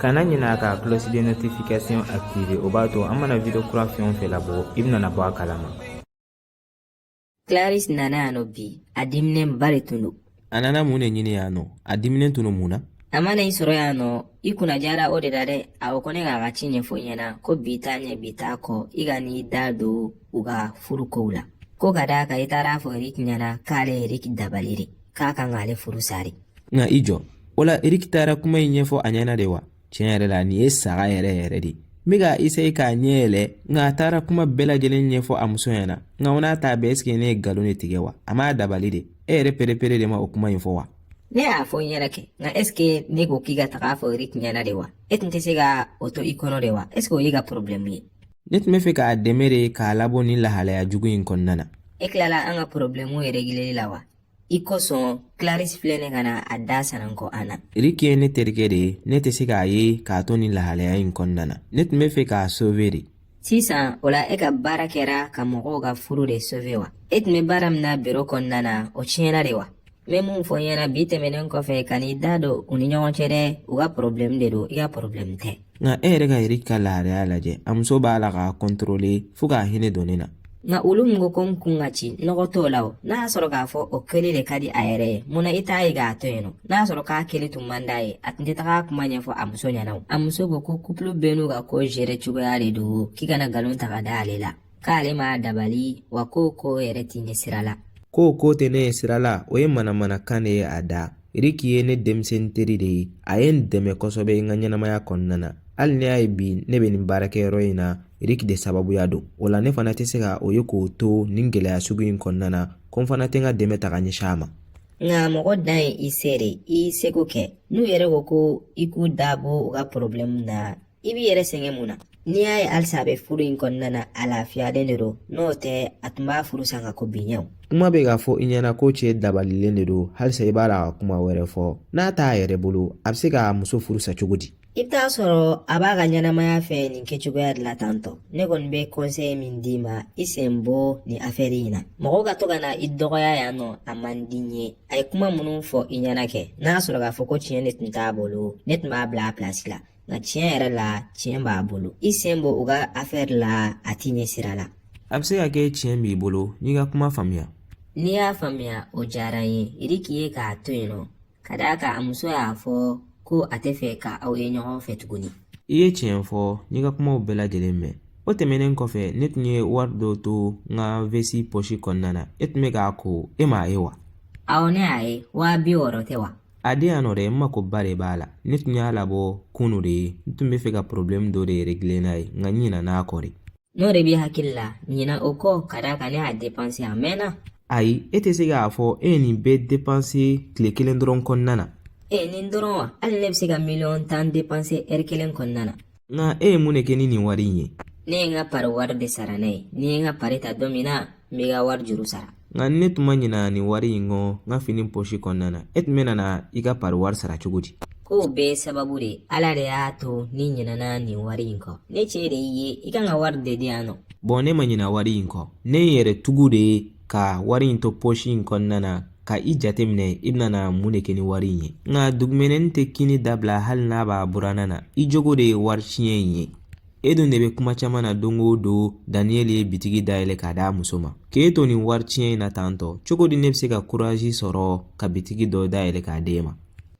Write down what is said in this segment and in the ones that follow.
kana ɲinɛ ka cloche de notification activer o b'a to an mana video kura fɛn o fɛn labɔ i bɛna bɔ a kalama Clarisse nana yan nɔ bi a diminenba de tun don a nana mun de ɲini yan nɔ a diminen tun don mun na a ma na i sɔrɔ yan nɔ i kunnadiyara o de la dɛ a ko ne k'a ka ci ɲɛfɔ i ɲɛna ko bi t'a ɲɛ bi t'a kɔ i kan'i da don u ka furu kow la ko ka d'a kan i taara fɔ erik ɲɛna k'ale erik dabali de k'a kan k'ale furu sa de nka i jɔ o la eriki taara kuma in ɲɛfɔ a ɲɛna de wa tiɲɛ yɛrɛ la nin ye saga yɛrɛ yɛrɛ de n bɛ ka eseye k'a ɲɛ yɛlɛ nka a taara kuma bɛɛ lajɛlen ɲɛfɔ a muso ɲɛna nka o n'a ta bɛɛ esike ne ye nkalon de tigɛ wa a m'a dabali de e yɛrɛ perepere de ma o kuma in fɔ wa ne y'a fɔ n yɛrɛ kɛ nka esike ne ko k'i ka taga fɔ eriki ɲɛna de wa e tun tɛ se ka o to i kɔnɔ de wa esike o y'i ka porobilɛmu ye ne tun bɛ fɛ k'a dɛmɛ de k'a labɔ nin lahalaya jugu in kɔnɔna na e tilala an ka porobilɛmu yɛrɛ regileli la wa i kosɔn Clarisse filɛ ne ka na a da sananko an na. Riki ye ne terikɛ de ye ne tɛ se k'a ye k'a to nin lahalaya in kɔnɔna na ne tun bɛ fɛ k'a sauver de. Sisan o la e ka baara kɛra ka mɔgɔw ka furu de sauver wa e tun bɛ baara min na biro kɔnɔna na o tiɲɛna de wa. n bɛ mun fɔ i ɲɛna bi tɛmɛnen kɔfɛ kan'i da don u ni ɲɔgɔn cɛ dɛ u ka problème de don i ka problème tɛ. nka e yɛrɛ ka eriki ka lahalaya lajɛ a muso b'a la k'a kontorole fo k'a hinɛ don ne na nka olu min ko ko n kun ka ci nɔgɔ t'o la o n'a y'a sɔrɔ k'a fɔ o kɛli de ka di a yɛrɛ ye mun na i t'a ye k'a to yen nɔ n'a y'a sɔrɔ k'a kɛli tun man d'a ye a tun tɛ taga kuma ɲɛfɔ a muso ɲɛna o a muso ko ko kupulu bɛɛ n'u ka ko zere cogoya de don k'i kana nkalon ta ka da ale la k'ale m'a dabali wa k'o ko yɛrɛ t'e ɲɛ sira la k'o ko tɛ ne ɲɛ sira la o ye manamanakan de ye a da riki ye ne denmisɛnnin teri de ye a ye n dɛmɛ kosɛbɛ n ka ɲɛnamaya kɔnɔna na hali n'e y'a ye bi ne bɛ nin baarakɛyɔrɔ in na riki de sababuya don o la ne fana tɛ se ka o ye k'o to nin gɛlɛya sugu in kɔnɔna na ko n fana tɛ n ka dɛmɛ ta ka ɲɛsin a ma nka mɔgɔ dan ye i se de ye i seko kɛ n'u yɛrɛ ko ko i k'i da bɔ u ka porobilɛmu na i b'i yɛrɛ sɛgɛn mun na n'i y'a ye halisa a bɛ furu in kɔnɔna na a lafiyalen de don n'o tɛ a tun b'a furu sa nka ko biɲɛw kuma bɛ k'a fɔ i ɲɛna ko cɛ dabalilen de don halisa i b'a la ka kuma wɛrɛ fɔ n'a t'a yɛrɛ bolo a bɛ se ka muso furu sa cogo di i bɛ taa sɔrɔ a b'a ka ɲɛnamaya fɛ nin kɛcogoya de la tantɔ ne kɔni bɛ kɔnsɛyi min d'i ma i sen bɔ nin afɛri in na mɔgɔw ka to ka na i dɔgɔya yan nɔ a man di n ye a ye kuma minnu fɔ i ɲɛna kɛ n'a sɔrɔ k'a fɔ ko tiɲɛ de tun t'a bolo ne tun b'a bila a pilasi la nka tiɲɛ yɛrɛ la tiɲɛ b'a bolo i sen bɔ u ka afɛri la a t'i ɲɛ sira la a bɛ se ka kɛ tiɲɛ b'i bolo n y'i ka kuma faamuya n'i y'a faamuya o diyara n ye eriki ye k'a to yen nɔ ka d'a kan a muso y'a fɔ ko a tɛ fɛ ka aw ye ɲɔgɔn fɛ tuguni i ye tiɲɛ fɔ n y'i ka kumaw bɛɛ lajɛlen mɛn o tɛmɛnen kɔfɛ ne tun ye wari dɔ to n ka vesi pɔsi kɔnɔna na e tun bɛ k'a ko e m'a ye wa awɔ ne y'a ye waa bi wɔɔrɔ tɛ wa A di yan nɔ dɛ n makoba de b'a la ne tun y'a labɔ kunu de ye n tun bɛ fɛ ka porobilɛmu dɔ de regile n'a ye nka n ɲinɛn'a kɔ de n'o de b'i hakili la ɲinɛ o kɔ ka d'a kan ne y'a depanse a mɛnna ayi e tɛ se k'a fɔ e ye nin bɛɛ depanse tile kelen dɔrɔn kɔnɔna na ee nin dɔrɔn wa hali ne bɛ se ka miliyɔn tan depanse ɛri kelen kɔnɔna na nka e ye mun de kɛ ni nin wari in ye ne ye n ka pari wari de sara n'a ye ne ye n ka pari ta don min na n b'i ka wari juru sara nka ni ne tun ma ɲina nin wari in kɔ n ka fini pɔsi kɔnɔna na e tun bɛ nana i ka pari wari sara cogo di k'o bɛɛ sababu de ala de y'a to ne ɲinɛna nin wari in kɔ ne cɛ de y'i ye i ka n ka wari de di yan nɔ bɔn ne ma ɲina wari in kɔ ne ye n yɛrɛ tugu de ka wari in to pɔsi in kɔnɔna na ka i jateminɛ i bɛna mun de kɛ ni wari in ye nka dugumɛnɛ tɛ kinni dabila hali n'a b'a buranna na i jogo de ye wari tiɲɛ in ye e dun de bɛ kuma caman na don o don daniyɛli ye bitigi dayɛlɛ k'a d'a muso ma k'e to nin wari tiɲɛ in na tantɔ cogo di ne bɛ se ka kurazi sɔrɔ ka bitigi dɔ dayɛlɛ k'a d'e ma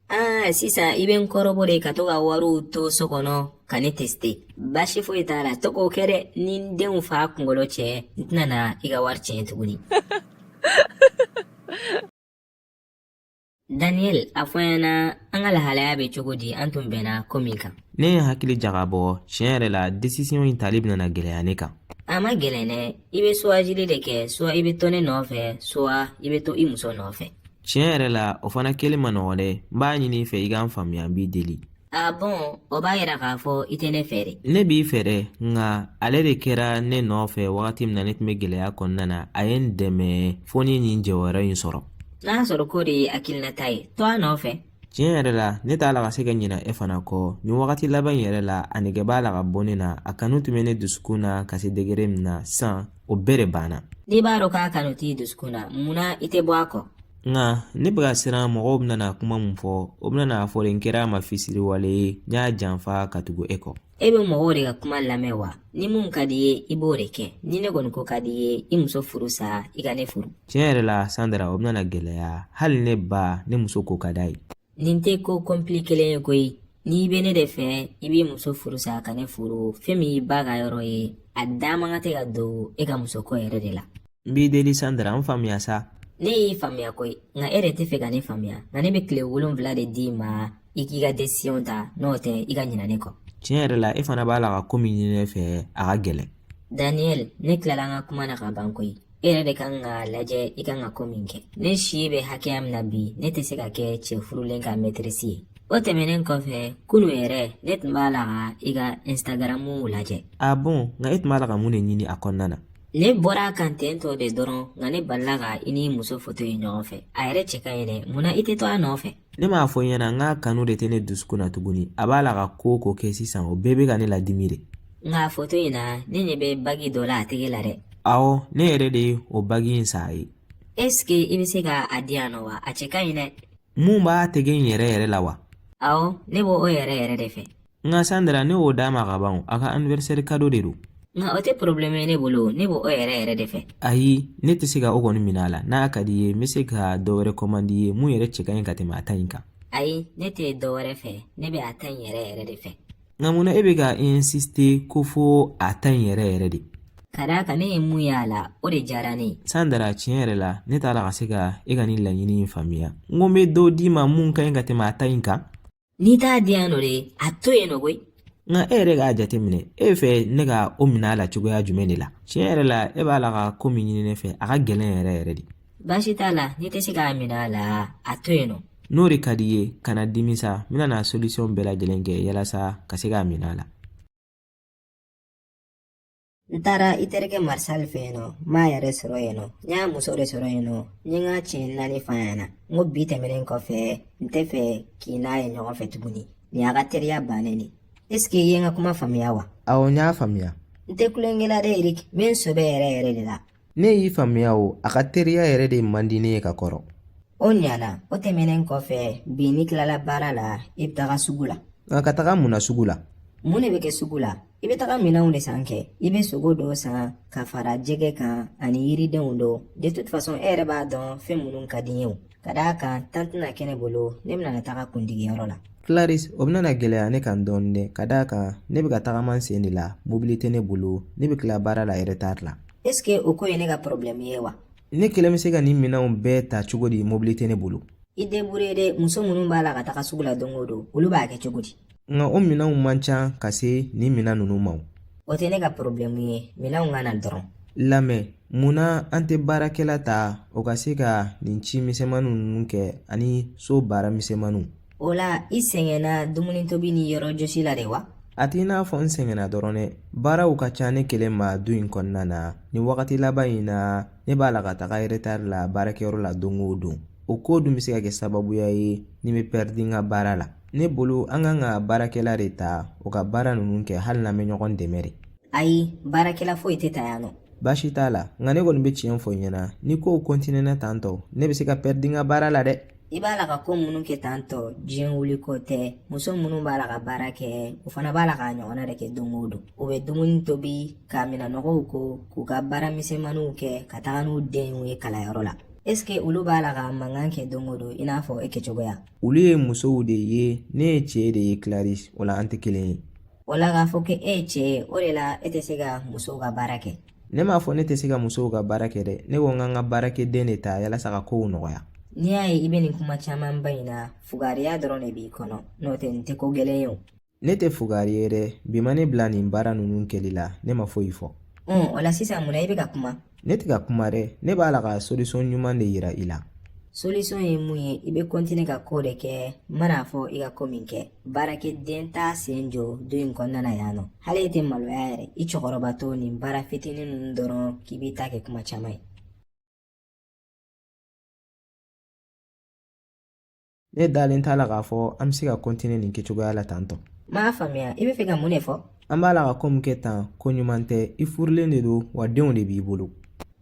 aa sisan i bɛ n kɔrɔbɔ de ka to ka wariw to so kɔnɔ ka ne teste baasi foyi t'a la to k'o kɛ dɛ ni n denw fa kunkolo cɛ n tɛna na i ka wari tiɲɛ tuguni Daniel a fɔ n ɲɛna an ka lahalaya bɛ cogo di an tun bɛnna ko min kan ne ye hakili jagabɔ tiɲɛ yɛrɛ la desisiɔn in tali bɛna gɛlɛya ne kan a man gɛlɛn dɛ i bɛ suwazili de kɛ suwa i bɛ to ne nɔfɛ suwa i bɛ to i muso nɔfɛ tiɲɛ yɛrɛ la o fana kelen man nɔgɔn dɛ n b'a ɲini i fɛ i ka n faamuya n b'i deli A bɔn o b'a yira k'a fɔ i tɛ ne fɛ de ne b'i fɛ dɛ nka ale de kɛra ne nɔfɛ wagati min na ne tun bɛ gɛlɛya kɔnɔna na a ye n dɛmɛ fo n ye nin jɔyɔrɔ in sɔrɔ n'a y'a sɔrɔ k'o de y'i hakilinata ye to a nɔfɛ tiɲɛ yɛrɛ la ne t'a la ka se ka ɲina e fana kɔ nin wagati laban in yɛrɛ la a nege b'a la ka bɔ ne na a kanu tun bɛ ne dusukun na ka se degere min na sisan o bɛɛ de banna n'i b'a dɔn k'a kanu t'i dusukun na mun na i tɛ bɔ a kɔ nka ne bɛ ka siran mɔgɔw bɛna kuma min fɔ u bɛna a fɔ n kɛra a ma fisiriwale ye n y'a janfa ka tugu e kɔ e bɛ mɔgɔw de ka kuma lamɛn wa ni min ka d'i ye i b'o de kɛ ni ne kɔni ko ka d'i ye i muso furusa i ka ne furu tiɲɛ yɛrɛ la sandra o bɛna gɛlɛya hali ne ba ne muso ko ka d'a ye nin tɛ ko kɔnpilikelen ye koyi n'i bɛ ne de fɛ i b'i muso furusa ka ne furu fɛn min y'i ba ka yɔrɔ ye a da man kan tɛ ka don e ka musoko yɛrɛ de la n b'i deli sandra n faamuya sa ne y'i faamuya koyi nka e de tɛ fɛ ka ne faamuya nka ne bɛ tile wolonwula de d'i ma i k'i ka desisiyɔn ta n'o tɛ i ka ɲinɛ ne kɔ tiɲɛ yɛrɛ la e fana b'a la ka ko min ɲini ne fɛ a ka gɛlɛn daniel ne tilala n ka kuma na ka ban koyi E yɛrɛ de kan ka lajɛ i kan ka ko min kɛ ne si bɛ hakɛya min na bi ne tɛ se ka kɛ cɛ furulen ka mɛtirisi ye o tɛmɛnen kɔfɛ kunu yɛrɛ ne tun b'a la ka i ka instagaramu lajɛ ah bon nka e tun b'a la ka mun de ɲini a kɔnɔna na ne bɔra a kan ten tɔ de dɔrɔn nka ne balila ka i ni muso foto ye ɲɔgɔn fɛ a yɛrɛ cɛ ka ɲi dɛ mun na i tɛ to a nɔfɛ ne m'a fɔ ɲɛna n k'a kanu de tɛ ne dusukun na tuguni a b'a la ka ko o ko kɛ sisan o bɛɛ bɛ ka ne ladimi de nka foto in na ne ɲɛ bɛ bagi dɔ la a tɛgɛ la dɛ awɔ ne yɛrɛ de ye o bagi in san a ye esike i bɛ se ka a di yan nɔ wa a cɛ ka ɲi dɛ mun b'a tɛgɛ in yɛrɛ yɛrɛ la wa awɔ ne b'o yɛrɛ yɛrɛ de fɛ nka sandra ne y'o d'a ma ka ban o, a ka anniversaire kado de don nka o tɛ porobilɛmu ye ne bolo o, ne b'o yɛrɛ yɛrɛ de fɛ ayi ne tɛ se ka o kɔni minɛ a la n'a ka di i ye n bɛ se ka dɔ wɛrɛ kɔmandi i ye mun yɛrɛ cɛ ka ɲi ka tɛmɛ a ta in kan ayi ne tɛ dɔ wɛrɛ fɛ ne bɛ a ta in yɛrɛ yɛrɛ de fɛ nka munna e bɛ ka insiste ko fo a ta in yɛrɛ yɛrɛ de ka d'a kan ne ye mun y'a la o de diyara ne ye sandra tiɲɛ yɛrɛ la ne t'a la ka se ka e ka nin laɲini in faamuya n ko n bɛ dɔ d'i ma mun ka ɲi ka tɛmɛ a ta in kan n'i t'a di yan nɔ de a to yen nɔ koyi nka e yɛrɛ k'a jateminɛ e bɛ fɛ ne ka o minɛ a la cogoya jumɛn de la tiɲɛ yɛrɛ la e b'a la ka ko min ɲini ne fɛ a ka gɛlɛn yɛrɛ yɛrɛ de baasi t'a la n'i tɛ se k'a minɛ a la a to yen nɔ n'o de ka di i ye kana dimi sa n bɛna solisɔn bɛɛ lajɛlen kɛ yalasa ka se k'a minɛ a la n taara i terikɛ marisali fɛ yen nɔ n m'a yɛrɛ sɔrɔ yen nɔ n y'a muso de sɔrɔ yen nɔ n ye n ka tiɲɛ naani f'a ɲɛna n ko bi tɛmɛnen kɔfɛ n tɛ fɛ k'i n'a ye ɲɔgɔn fɛ tuguni nin y'a ka teriya bannen de esike i ye n ka kuma faamuya wa awɔ n y'a faamuya n tɛ tulonkɛ la dɛ erik n bɛ n sɛbɛ yɛrɛ yɛrɛ de la ne y'i faamuya o a ka teriya yɛrɛ de man di ne ye ka kɔrɔ o ɲana o tɛmɛnen kɔfɛ bi n'i tilala baara la i bɛ taga sugu la nka ka taga mun na sugu la mun de bɛ kɛ sugu la i bɛ taga minɛnw de san kɛ i bɛ sogo dɔw san ka fara jɛgɛ kan ani yiridenw dɔw de toute façon e yɛrɛ b'a dɔn fɛn minnu ka di n ye o Ka d'a kan temps tɛna kɛ ne bolo ne bɛna na taga kundigiyɔrɔ la Claris o bɛna na gɛlɛya ne kan dɔɔnin dɛ ka d'a kan ne bɛ ka tagama n sen de la mobili tɛ ne bolo ne bɛ tila baara la yɛrɛ tard la est ce que o ko ye ne ka problème ye wa ne kelen bɛ se ka nin minɛnw bɛɛ ta cogo di mobili tɛ ne bolo i debrouille dɛ muso minnu b'a la ka taga sugu la don o don olu b'a kɛ cogo di nka o minɛnw man ca ka se nin minɛn ninnu ma o tɛ ne ka porobilɛmu ye minɛnw ka na dɔrɔn lamɛn munna an tɛ baarakɛla ta o ka se ka nin ci misɛnmaninw ninnu kɛ ani so baara misɛnmaninw o la i sɛgɛnna dumuni tobi ni yɔrɔ jɔsi la de wa a t'i n'a fɔ n sɛgɛnna dɔrɔn dɛ baaraw ka ca ne kelen ma du in kɔnɔna na nin wagati laban in na ne b'a la ka taga eretari la baarakɛyɔrɔ la don o don o ko dun bɛ se ka kɛ sababuya ye ne bɛ pɛridi n ka baara la ne bolo an kan ka baarakɛla de ta o ka baara ninnu kɛ hali n'an bɛ ɲɔgɔn dɛmɛ de ayi baarakɛla foyi tɛ ta yan nɔ baasi t'a la nka ne kɔni bɛ tiɲɛ fɔ i ɲɛna ni kow kɔntinɛna tan tɔ ne bɛ se ka pɛridi n ka baara la dɛ i b'a la ka ko minnu kɛ tan tɔ diɲɛ wuli ko tɛ muso minnu b'a la ka baara kɛ o fana b'a la k'a ɲɔgɔnna de kɛ don o don u bɛ dumuni tobi ka minɛnɔgɔw ko k'u ka baara misɛnmaniw kɛ ka taga n'u denw ye kalanyɔrɔ la ɛsike olu b'a la ka mankan kɛ don o don i n'a fɔ e kɛcogoya olu ye musow de ye ne ye cɛ de ye kilarisi o la an tɛ kelen ye o la k'a fɔ k'e ye cɛ ye o de la e tɛ se ka musow ka baara kɛ ne m'a fɔ ne tɛ se ka musow ka baara kɛ dɛ ne ko n ka n ka baarakɛden de ta yalasa ka kow nɔgɔya n'i y'a ye i bɛ nin kuma camanba in na fugariya dɔrɔn de b'i kɔnɔ n'o tɛ nin tɛ ko gɛlɛn ye o ne tɛ fugari ye dɛ bi ma ne bila nin baara ninnu kɛli la ne ma foyi fɔ o la sisan mun na i bɛ ka kuma ne tɛ ka kuma dɛ ne b'a la ka solution ɲuman de yira i la solution ye mun ye i bɛ kɔntine ka ko de kɛ n mana a fɔ i ka ko min kɛ baarakɛden t'a sen jɔ du in kɔnɔna na yan nɔ hali e tɛ maloya yɛrɛ i cɛkɔrɔbatɔ nin baara fitinin ninnu dɔrɔn k'i b'i ta kɛ kuma caman ye ne dalen t'a la k'a fɔ an bɛ se ka kɔntine nin kɛcogoya la tan tɔ n m'a faamuya i bɛ fɛ ka mun de fɔ an b'a la ka ko min kɛ tan ko ɲuman tɛ i furulen de don wa denw de b'i bolo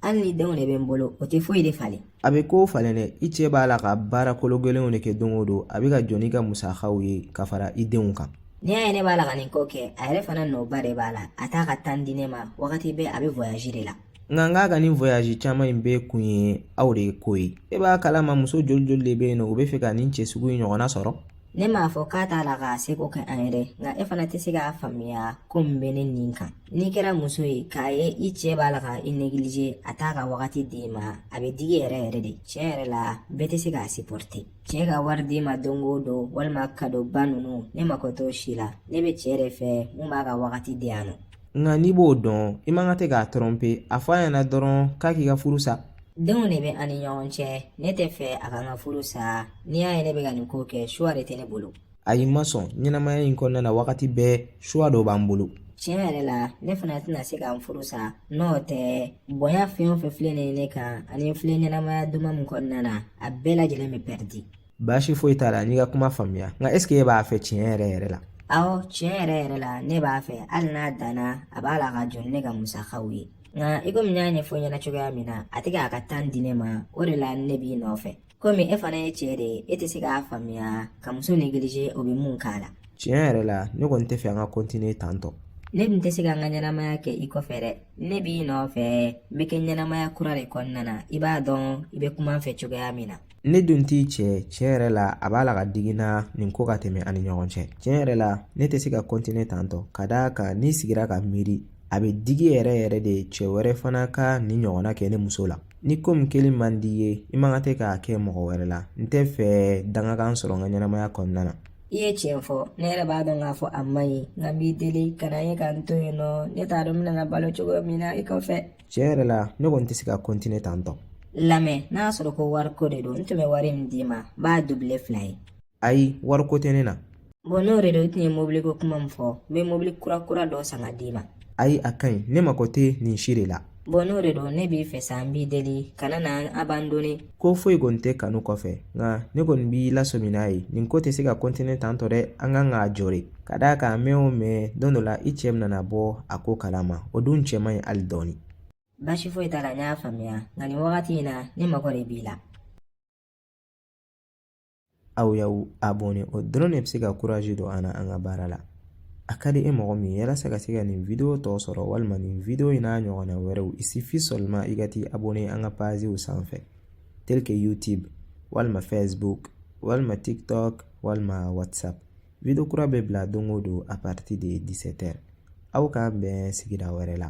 hali ni denw de bɛ n bolo o tɛ foyi de falen a bɛ kow falen dɛ i cɛ b'a la ka baara kolo gɛlɛnw de kɛ don o don a bɛ ka jɔ n'i ka musakaw ye ka fara i denw kan n'i y'a ye ne b'a la ka nin ko kɛ a yɛrɛ fana nɔba de b'a la a t'a ka tan di ne ma wagati bɛɛ a bɛ voyazi de la nka n k'a ka nin voyazi caman in bɛɛ kun ye aw de ko ye e b'a kalama muso joli joli de bɛ yen nɔ u bɛ fɛ ka nin cɛ sugu in ɲɔgɔnna sɔrɔ ne m'a fɔ k'a t'a la k'a seko kɛ an ye dɛ nka e fana tɛ se k'a faamuya ko min bɛ ne nin kan n'i kɛra muso ye k'a ye i cɛɛ b'a la ka i negilize a t'a ka wagati d'i ma a bɛ digi yɛrɛ yɛrɛ de tiɲɛ yɛrɛ la bɛɛ tɛ se k'a sipɔrite cɛɛ ka wari d'i ma don o don walima kadoba ninnu ne mako t'o si la ne bɛ cɛɛ de fɛ mun b'a ka wagati di yan nɔ nka n'i b'o dɔn i man kan tɛ k'a tɔrɔ pe a fɔ a ɲɛna dɔrɔn k'a k'i ka furu sa denw de bɛ an ni ɲɔgɔn cɛ ne tɛ fɛ a ka n ka furu sa n'i y'a ye ne bɛ ka nin ko kɛ suwa de tɛ ne bolo ayi n ma sɔn ɲɛnamaya in kɔnɔna na wagati bɛɛ suwa dɔ b'an bolo tiɲɛ yɛrɛ la ne fana tɛna se ka n furu sa n'o tɛ bonya fɛn o fɛn filɛ nin ye ne kan ani n filɛ ɲɛnamaya duman min kɔnɔna na a bɛɛ lajɛlen bɛ pɛridi baasi foyi t'a la n y'i ka kuma faamuya nka ɛseke e b'a fɛ tiɲɛ yɛrɛ yɛrɛ la awɔ tiɲɛ yɛrɛ yɛrɛ la ne b'a fɛ hali n'a danna a b'a la ka jɔ ni ne ka musakaw ye nka i komi n y'a ɲɛfɔ i ɲɛna cogoya min na a tɛ k'a ka tan di ne ma o de la ne b'i nɔfɛ komi e fana ye cɛɛ de ye e tɛ se k'a faamuya ka muso negilize o bɛ mun k'a la tiɲɛ yɛrɛ la ne kɔni tɛ fɛ an ka kɔntine tan tɔ ne tun tɛ se ka n ka ɲɛnamaya kɛ i kɔfɛ dɛ ne b'i nɔfɛ n bɛ kɛ ɲɛnamaya kura de kɔnɔna na i b'a dɔn i bɛ kuma n fɛ cogoya min na ne dun t'i cɛ tiɲɛ yɛrɛ la a b'a la ka digi n na nin ko ka tɛmɛ an ni ɲɔgɔn cɛ tiɲɛ yɛrɛ la ne tɛ se ka kɔntine tan tɔ ka d'a kan n'i sigira ka miiri a bɛ digi yɛrɛ yɛrɛ de cɛ wɛrɛ fana ka nin ɲɔgɔnna kɛ ne muso la ni ko min kɛli man di i ye i man kan tɛ k'a kɛ mɔgɔ wɛrɛ la n tɛ fɛ dangakan sɔrɔ n ka ɲɛnamaya kɔnɔna na i ye tiɲɛ fɔ ne yɛrɛ b'a dɔn k'a fɔ a man ɲi nka n b'i deli kana ye ka n to yen nɔ ne t'a dɔn n bɛna balo cogo min na i kɔfɛ tiɲɛ yɛrɛ la ne kɔni tɛ se ka kɔntine tan tɔ lamɛn n'a y'a sɔrɔ ko wariko de don n tun bɛ wari min d'i ma n b'a dubile fila ye ayi wariko tɛ ne na bɔn n'o de don i tun ye mobiliko kuma min fɔ n bɛ mobili kura kura dɔ san ka d'i ma ayi a ka ɲi ne mako tɛ nin si de la bɔn n'o de don ne b'i fɛ sa n b'i deli kana n abandone ko foyi kɔni tɛ kanu kɔfɛ nka ne kɔni b'i lasɔmi n'a ye nin ko tɛ se ka kɔntine tan tɔ dɛ an kan k'a jɔ de Ka d'a kan mɛɛn o mɛɛn don dɔ la i cɛ nana bɔ a ko kalama o dun cɛ man ɲi hali dɔɔni baasi foyi t'a la n y'a faamuya nka nin wagati in na ne mago de b'i la aw y'aw abɔne o dɔrɔn de bɛ se ka kurazi don an na an ka baara la a ka di e mɔgɔ min ye yalasa ka se ka nin video tɔ sɔrɔ walima nin video in n'a ɲɔgɔnna wɛrɛw il suffit seulement i ka t'i abɔne an ka paziw sanfɛ tel que youtube walima facebook walima tiktok walima whatsapp Video kura bɛ bila don o don à partir de 17 heures aw k'an bɛn sigida wɛrɛ la